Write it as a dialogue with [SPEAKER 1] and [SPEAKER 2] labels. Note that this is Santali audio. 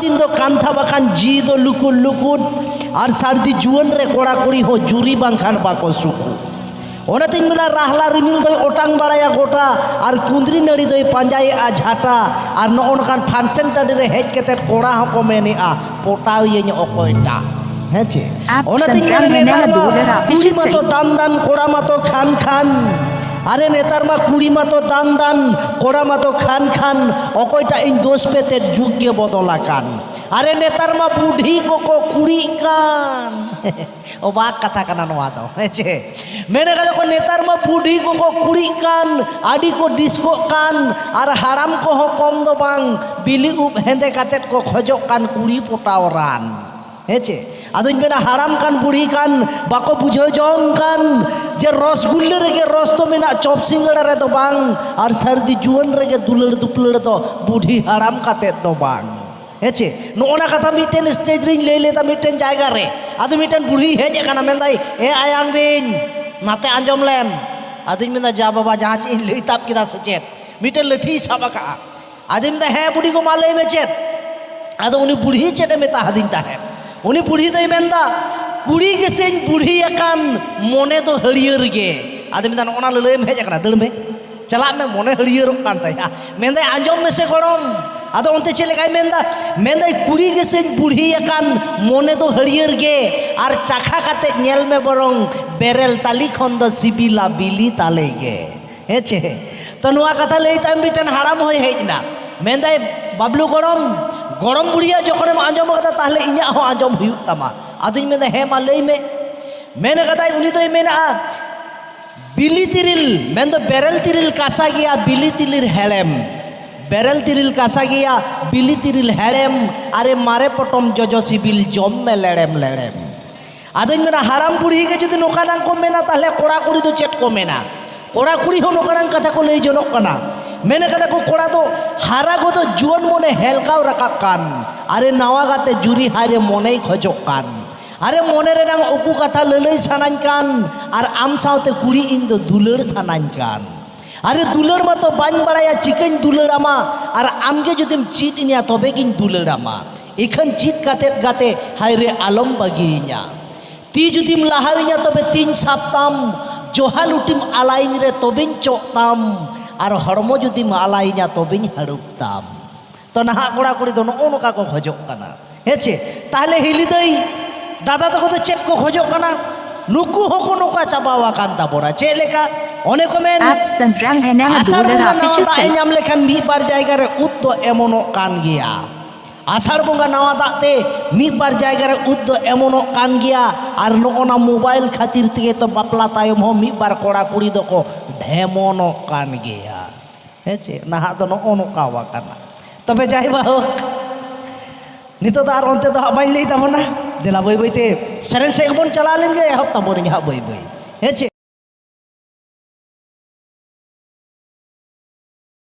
[SPEAKER 1] ᱫᱤᱱ ᱫᱚ ᱠᱟᱱᱛᱷᱟ ᱵᱟᱠᱷᱟᱱ ᱡᱤ ᱫᱚ ᱞᱩᱠᱩᱨ ᱞᱩᱠᱩᱨ ᱟᱨ ᱥᱟᱹᱨᱫᱤ ᱡᱩᱣᱟᱹᱱ ᱨᱮ ᱠᱚᱲᱟ ᱠᱩᱲᱤ ᱦᱚᱸ ᱡᱩᱨᱤ ᱵᱟᱝᱠᱷᱟᱱ ᱵᱟᱠᱚ ᱥᱩᱠᱩ ᱚᱱᱟᱛᱤᱧ ᱢᱮᱱᱟ ᱨᱟᱦᱞᱟ ᱨᱤᱢᱤᱞ ᱫᱚᱭ ᱚᱴᱟᱝ ᱵᱟᱲᱟᱭᱟ ᱜᱚᱴᱟ ᱟᱨ ᱠᱩᱸᱫᱽᱨᱤ ᱱᱟᱹᱲᱤ ᱫᱚᱭ ᱯᱟᱸᱡᱟᱭᱮᱜᱼᱟ ᱡᱷᱟᱴᱟ ᱟᱨ ᱱᱚᱜᱼᱚ ᱱᱚᱝᱠᱟᱱ ᱯᱷᱟᱱᱥᱮᱱ ᱴᱟᱺᱰᱤ ᱨᱮ ᱦᱮᱡ ᱠᱟᱛᱮᱫ ᱠᱚᱲᱟ ᱦᱚᱸᱠᱚ ᱢᱮᱱᱮᱜᱼᱟ ᱯᱚᱴᱟᱣ ᱤᱭᱟᱹᱧ ᱚᱠᱚᱭᱴᱟᱜ ᱦᱮᱸ ᱪᱮ ᱚᱱᱟᱛᱤᱧ ᱢᱮᱱᱟ ᱱᱮᱛᱟᱨ ᱢᱟ ᱠᱩᱲᱤ ᱢᱟᱛᱚ ᱫᱟᱱ ᱫᱟᱱ ᱠᱚᱲᱟ ᱢᱟᱛᱚ ᱠᱷᱟᱱ ᱠᱷᱟᱱ ᱟᱨᱮ ᱱᱮᱛᱟᱨ ᱢᱟ ᱠᱩᱲᱤ ᱢᱟᱛᱚ ᱫᱟᱱ ᱫᱟᱱ ᱠᱚᱲᱟ ᱢᱟᱛᱚ ᱠᱷᱟᱱ ᱠᱷᱟᱱ ᱚᱠᱚᱭᱴᱟᱜ ᱤᱧ ᱫᱳᱥ ᱯᱮᱛᱮ ᱡᱩᱜᱽ ᱜᱮ ᱵᱚᱫᱚᱞ ᱟᱠᱟᱱ ᱟᱨᱮ ᱱᱮᱛᱟᱨ ᱢᱟ ᱵᱩᱰᱷᱤ ᱠᱚᱠᱚ ᱠᱩᱲᱤᱜ ᱠᱟᱱ ᱚᱵᱟᱠ ᱠᱟᱛᱷᱟ ᱠᱟᱱᱟ ᱱᱚᱣᱟ ᱫᱚ ᱦᱮᱸ ᱪᱮ ᱢᱮᱱ ᱠᱟᱫᱟ ᱠᱚ ᱱᱮᱛᱟᱨ ᱢᱟ ᱵᱩᱰᱷᱤ ᱠᱚᱠᱚ ᱠᱩᱲᱤᱜ ᱠᱟᱱ ᱟᱹᱰᱤ ᱠᱚ ᱰᱤᱥᱠᱚᱜ ᱠᱟᱱ ᱟᱨ ᱦᱟᱲᱟᱢ ᱠᱚᱦᱚᱸ ᱠᱚᱢ ᱫᱚ ᱵᱟᱝ ᱵᱤᱞᱤ ᱩᱵ ᱦᱮᱸᱫᱮ ᱠᱟᱛᱮᱫ ᱠᱚ ᱠᱷᱚᱡᱚᱜ ᱠᱟᱱ ᱠᱩᱲᱤ ᱯᱚᱴᱟᱣ ᱨᱟᱱ ᱦᱮᱸ ᱪᱮ ᱟᱫᱚᱧ ᱢᱮᱱᱟ ᱦᱟᱲᱟᱢ ᱠᱟᱱ ᱵᱩᱲᱦᱤ ᱠᱟᱱ ᱵᱟᱠᱚ ᱵᱩᱡᱷᱟᱹᱣ ᱡᱚᱝ ᱠᱟᱱ ᱡᱮ ᱨᱚᱥᱜᱩᱞᱞᱟᱹ ᱨᱮᱜᱮ ᱨᱚᱥ ᱫᱚ ᱢᱮᱱᱟᱜ ᱪᱚᱯ ᱥᱤᱸᱜᱟᱹᱲᱟ ᱨᱮᱫᱚ ᱵᱟᱝ ᱟᱨ ᱥᱟᱹᱨᱫᱤ ᱡᱩᱣᱟᱹᱱ ᱨᱮᱜᱮ ᱫᱩᱞᱟᱹᱲ ᱫᱩᱯᱞᱟᱹᱲ ᱫᱚ ᱵᱩᱰᱷᱤ ᱦᱟᱲᱟᱢ ᱠᱟᱛᱮᱫ ᱫᱚ ᱵᱟᱝ ᱦᱮᱸᱪᱮ ᱱᱚᱜᱼᱚ ᱱᱟ ᱠᱟᱛᱷᱟ ᱢᱤᱫᱴᱮᱱ ᱥᱴᱮᱡᱽ ᱨᱤᱧ ᱞᱟᱹᱭ ᱞᱮᱫᱟ ᱢᱤᱫᱴᱮᱱ ᱡᱟᱭᱜᱟ ᱨᱮ ᱟᱫᱚ ᱢᱤᱫᱴᱮᱱ ᱵᱩᱲᱦᱤ ᱦᱮᱡ ᱟᱠᱟᱱᱟ ᱢᱮᱱᱫᱟᱭ ᱮ ᱟᱭᱟᱝ ᱵᱤᱧ ᱱᱟᱛᱮ ᱟᱸᱡᱚᱢ ᱞᱮᱢ ᱟᱫᱚᱧ ᱢᱮᱱᱫᱟ ᱡᱟ ᱵᱟᱵᱟ ᱡᱟᱦᱟᱸ ᱪᱮᱫ ᱤᱧ ᱞᱟᱹᱭ ᱛᱟᱵ ᱠᱮᱫᱟ ᱥᱮ ᱪᱮᱫ ᱢᱤᱫᱴᱮᱱ ᱞᱟᱹᱴᱷᱤᱭ ᱥᱟᱵ ᱟᱠᱟᱜᱼᱟ ᱟᱫᱚᱧ ᱢᱮᱱᱫᱟ ᱦᱮᱸ ᱵᱩᱰᱷᱤ ᱜᱚ ᱢᱟ ᱞᱟᱹᱭ ᱢᱮ ᱪᱮᱫ ᱟᱫᱚ ᱩᱱᱤ ᱵᱩᱲᱦᱤ ᱪᱮᱫ ᱮ ᱢᱮᱛᱟ ᱦᱟᱫᱤᱧ ᱛᱟᱦᱮᱸᱫ ᱩᱱᱤ ᱵᱩᱲᱦᱤ ᱫᱚᱭ ᱢᱮᱱᱫᱟ ᱠᱩᱲᱤ ᱜᱮᱥᱮᱧ ᱵᱩᱲᱦᱤ ᱟᱠᱟᱱ ᱢᱚᱱᱮ ᱫᱚ ᱦᱟᱹᱨᱭᱟᱹᱲ ᱜᱮ ᱟᱫᱚᱧ ᱢᱮᱱᱫᱟ ᱱᱚᱜᱼᱚ ᱱᱟ ᱞᱟᱹᱞᱟᱹᱭᱮᱢ ᱦᱮᱡ ᱟᱠᱟᱱᱟ ᱫᱟᱹᱲ ᱢᱮ ᱪᱟᱞᱟᱜ ᱢᱮ ᱢᱚᱱᱮ ᱦᱟᱹᱨᱭᱟᱹᱨᱚᱜ ᱠᱟᱱ ᱛᱟᱭᱟ ᱢᱮᱱᱫᱟᱭ ᱟᱸᱡᱚᱢ ᱢᱮᱥᱮ ᱜᱚᱲᱚᱢ ᱟᱫᱚ ᱚᱱᱛᱮ ᱪᱮᱫ ᱞᱮᱠᱟᱭ ᱢᱮᱱᱫᱟ ᱢᱮᱱᱫᱟᱭ ᱠᱩᱲᱤ ᱜᱮᱥᱮᱧ ᱵᱩᱲᱦᱤ ᱟᱠᱟᱱ ᱢᱚᱱᱮ ᱫᱚ ᱦᱟᱹᱨᱭᱟᱹᱨ ᱜᱮ ᱟᱨ ᱪᱟᱠᱷᱟ ᱠᱟᱛᱮ ᱧᱮᱞ ᱢᱮ ᱵᱚᱨᱚᱝ ᱵᱮᱨᱮᱞ ᱛᱟᱞᱤ ᱠᱷᱚᱱ ᱫᱚ ᱥᱤᱵᱤᱞᱟ ᱵᱤᱞᱤ ᱛᱟᱞᱮ ᱜᱮ ᱦᱮᱸ ᱪᱮ ᱛᱚ ᱱᱚᱣᱟ ᱠᱟᱛᱷᱟ ᱞᱟᱹᱭ ᱛᱟᱭ ᱢᱤᱫᱴᱮᱱ ᱦᱟᱲᱟᱢ ᱦᱚᱭ ᱦᱮᱡ ᱮᱱᱟ ᱢᱮᱱᱫᱟᱭ ᱵᱟᱵᱞᱩ ᱜᱚᱲᱚᱢ ᱜᱚᱲᱚᱢ ᱵᱩᱲᱦᱤᱭᱟᱜ ᱡᱚᱠᱷᱚᱱᱮᱢ ᱟᱸᱡᱚᱢ ᱠᱟᱫᱟ ᱛᱟᱦᱞᱮ ᱤᱧᱟᱹᱜ ᱦᱚᱸ ᱟᱸᱡᱚᱢ ᱦᱩᱭᱩᱜ ᱛᱟᱢᱟ ᱟᱫᱚᱧ ᱢᱮᱱᱫᱟ ᱦᱮᱸ ᱢᱟ ᱞᱟᱹᱭ ᱢᱮ ᱢᱮᱱ ᱠᱟᱫᱟᱭ ᱩᱱᱤ ᱫᱚᱭ ᱢᱮᱱᱟᱜᱼᱟ ᱵᱤᱞᱤ ᱛᱤᱨᱤᱞ ᱢᱮᱱᱫᱚ ᱵᱮᱨᱮᱞ ᱛᱤᱨᱤᱞ ᱠᱟᱥᱟ ᱜᱮᱭᱟ ᱵᱤᱞᱤ ᱛᱤᱨᱤᱞ ᱦᱮᱲᱮᱢ ᱵᱮᱨᱮᱞ ᱛᱤᱨᱤᱞ ᱠᱟᱥᱟ ᱜᱮᱭᱟ ᱵᱤᱞᱤ ᱛᱤᱨᱤᱞ ᱦᱮᱲᱮᱢ ᱟᱨᱮ ᱢᱟᱨᱮ ᱯᱚᱴᱚᱢ ᱡᱚᱡᱚ ᱥᱤᱵᱤᱞ ᱡᱚᱢ ᱢᱮ ᱞᱮᱲᱮᱢ ᱞᱮᱲᱮᱢ ᱟᱫᱚᱧ ᱢᱮᱱᱟ ᱦᱟᱲᱟᱢ ᱵᱩᱲᱦᱤ ᱜᱮ ᱡᱩᱫᱤ ᱱᱚᱝᱠᱟᱱᱟᱜ ᱠᱚ ᱢᱮᱱᱟ ᱛᱟᱦᱞᱮ ᱠᱚᱲᱟ ᱠᱩᱲᱤ ᱫᱚ ᱪᱮᱫ ᱠᱚ ᱢᱮᱱᱟ ᱠᱚᱲᱟ ᱠᱩᱲᱤ ᱦᱚᱸ ᱱᱚᱝᱠᱟᱱᱟᱜ ᱠᱟᱛᱷᱟ ᱠᱚ ᱞᱟᱹᱭ ᱡᱚᱱᱚᱜ ᱠᱟᱱᱟ ᱢᱮᱱ ᱠᱟᱫᱟ ᱠᱚ ᱠᱚᱲᱟ ᱫᱚ ᱦᱟᱨᱟ ᱜᱚᱫᱚ ᱡᱩᱣᱟᱹᱱ ᱢᱚᱱᱮ ᱦᱮᱞᱠᱟᱣ ᱨᱟᱠᱟᱵ ᱠᱟᱱ ᱟᱨᱮ ᱱᱟᱣᱟ ᱜᱟᱛᱮ ᱡᱩᱨᱤ ᱦᱟᱭᱨᱮ ᱢᱚᱱᱮᱭ ᱠᱷᱚᱡᱚᱜ ᱠᱟᱱ ᱟᱨᱮ ᱢᱚᱱᱮ ᱨᱮᱱᱟᱝ ᱩᱠᱩ ᱠᱟᱛᱷᱟ ᱞᱟᱹᱞᱟᱹᱭ ᱥᱟᱱᱟᱧ ᱠᱟᱱ ᱟᱨ ᱟᱢ ᱥᱟᱶᱛᱮ ᱠᱩᱲᱤ ᱤᱧ ᱫᱚ ᱫᱩᱞᱟᱹᱲ ᱥᱟᱱᱟᱧ ᱠᱟᱱ ᱟᱨᱮ ᱫᱩᱞᱟᱹᱲ ᱢᱟᱛᱚ ᱵᱟᱹᱧ ᱵᱟᱲᱟᱭᱟ ᱪᱤᱠᱟᱹᱧ ᱫᱩᱞᱟᱹᱲ ᱟᱢᱟ ᱟᱨ ᱟᱢᱜᱮ ᱡᱩᱫᱤᱢ ᱪᱮᱫ ᱤᱧᱟ ᱛᱚᱵᱮ ᱜᱤᱧ ᱫᱩᱞᱟᱹᱲ ᱟᱢᱟ ᱤᱠᱷᱟᱹᱱ ᱪᱮᱫ ᱠᱟᱛᱮᱫ ᱜᱟᱛᱮ ᱦᱟᱭ ᱨᱮ ᱟᱞᱚᱢ ᱵᱟᱹᱜᱤᱭᱤᱧᱟ ᱛᱤ ᱡᱩᱫᱤᱢ ᱞᱟᱦᱟᱣᱤᱧᱟ ᱛᱚᱵᱮ ᱛᱤᱧ ᱥᱟᱵ ᱛᱟᱢ ᱡᱚᱦᱟ ᱞᱩᱴᱤᱢ ᱟᱞᱟᱭᱤᱧ ᱨᱮ ᱛᱚᱵᱮᱧ ᱪᱚᱜ ᱛᱟᱢ ᱟᱨ ᱦᱚᱲᱢᱚ ᱡᱩᱫᱤᱢ ᱟᱞᱟᱭᱤᱧᱟ ᱛᱚᱵᱮᱧ ᱦᱟᱹᱲᱩᱵ ᱛᱟᱢ ᱛᱚ ᱱᱟᱦᱟᱜ ᱠᱚᱲᱟ ᱠᱩᱲᱤ ᱫᱚ ᱱᱚᱜᱼᱚ ᱱᱚᱝᱠᱟ ᱠᱚ ᱠᱷᱚᱡᱚᱜ ᱠᱟᱱᱟ ᱦᱮᱸ ᱪᱮ ᱛᱟᱦᱞᱮ ᱦᱤᱞᱤ ᱫᱟᱹᱭ ᱫᱟᱫᱟ ᱛᱟᱠᱚ ᱫᱚ ᱪᱮᱫ ᱠᱚ ᱠᱷᱚᱡᱚᱜ ᱠᱟᱱᱟ ᱱᱩᱠᱩ ᱦᱚᱸᱠᱚ ᱱᱚᱝᱠᱟ ᱪᱟᱵᱟ ᱟᱠᱟᱱ ᱛᱟᱵᱚᱱᱟ ᱪᱮᱫ ᱞᱮᱠᱟ ᱚᱱᱮ ᱠᱚ ᱢᱮᱱ ᱟᱥᱟᱲ ᱵᱚᱸᱜᱟ ᱱᱟᱣᱟ ᱫᱟᱜ ᱮ ᱧᱟᱢ ᱞᱮᱠᱷᱟᱱ ᱢᱤᱫ ᱵᱟᱨ ᱡᱟᱭᱜᱟ ᱨᱮ ᱩᱫ ᱫᱚ ᱮᱢᱚᱱᱚᱜ ᱠᱟᱱ ᱜᱮᱭᱟ ᱟᱥᱟᱲ ᱵᱚᱸᱜᱟ ᱱᱟᱣᱟ ᱫᱟᱜ ᱛᱮ ᱢᱤᱫ ᱵᱟᱨ ᱡᱟᱭᱜᱟ ᱨᱮ ᱩᱫ ᱫᱚ ᱮᱢᱚᱱᱚᱜ ᱠᱟᱱ ᱜᱮᱭᱟ ᱟᱨ ᱱᱚᱜᱼᱚᱱᱟ ᱢᱳᱵᱟᱭᱤᱞ ᱠᱷᱟᱹᱛᱤᱨ ᱛᱮᱜᱮ ᱛᱚ ᱵᱟᱯᱞᱟ ᱛᱟᱭᱚᱢ ᱦᱚᱸ ᱢᱤᱫ ᱵᱟᱨ ᱠᱚᱲᱟ ᱠᱩᱲᱤ ᱫᱚᱠᱚ ᱰᱷᱮᱢᱚᱱᱚᱜ ᱠᱟᱱ ᱜᱮᱭᱟ ᱦᱮᱸ ᱪᱮ ᱱᱟᱦᱟᱜ ᱫᱚ ᱱᱚᱜᱼᱚ ᱱᱚᱝᱠᱟ ᱟᱠᱟᱱᱟ ᱛᱚᱵᱮ ᱡᱟᱭ ᱵᱟᱦᱳᱠ ᱱᱤᱛᱚᱜ ᱫᱚ ᱟᱨ ᱚᱱᱛᱮ ᱫᱚ ᱦᱟᱸᱜ ᱵᱟᱹᱧ ᱞᱟᱹᱭ ᱛᱟᱵᱚᱱᱟ ᱫᱮᱞᱟ ᱵᱟᱹᱭ ᱵᱟᱹᱭᱛᱮ ᱥᱮᱨᱮᱧ ᱥᱮᱫ ᱵᱚᱱ ᱪᱟᱞᱟᱣ ᱞᱮᱱ ᱜᱮ ᱮᱦᱚᱵ ᱛᱟᱵᱚᱱᱤᱧ ᱦᱟᱸᱜ ᱵᱟᱹᱭ ᱵᱟᱹᱭ ᱦᱮᱸ ᱪᱮ